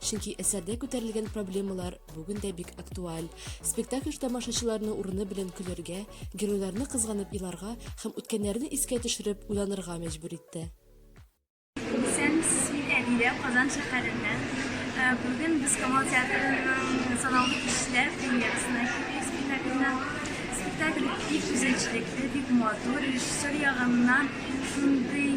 Чөнки әсәрдә күтәрелгән проблемалар бүген дә бик актуаль. Спектакль тамашачыларны урыны белән көләргә, геройларны кызганып иларга һәм үткәннәрне искә төшереп уйланырга мәҗбүр итте. Исәнмесез, мин Әмирә, Казан шәһәреннән. Ә, Бүген без Камал театрының санаулы кешеләр премьерасына килдек спектакльне. Спектакль бик үзенчәлекле, бик матур. Режиссер ягыннан шундый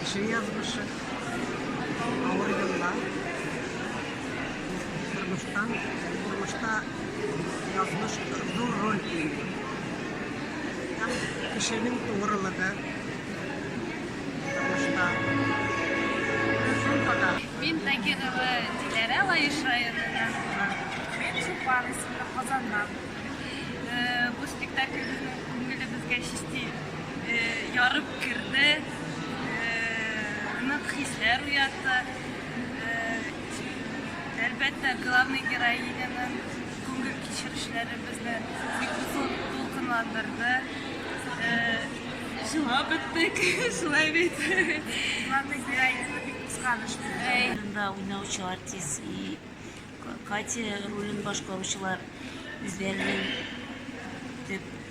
Кеше язмышы, авыр еллар, тормыштан, тормышта язмыш зур роль уйный. Һәм кешенең тугрылыгы тормышта. Мин Тагирова Диләрә Лаеш районыннан. Мин Чулпан исемле Казаннан. Бу спектакль безнең күңелебезгә чисти ярып Керде, нык хисләр уятты. Әлбәттә, главный героиняның күңел кичерешләре безне бик зур дулкынландырды. Җылап беттек, шулай бит. Главный героиняны бик кызганыч күрдем. Рында уйнаучы артист и Катя ролен башкаручылар үзләренең төп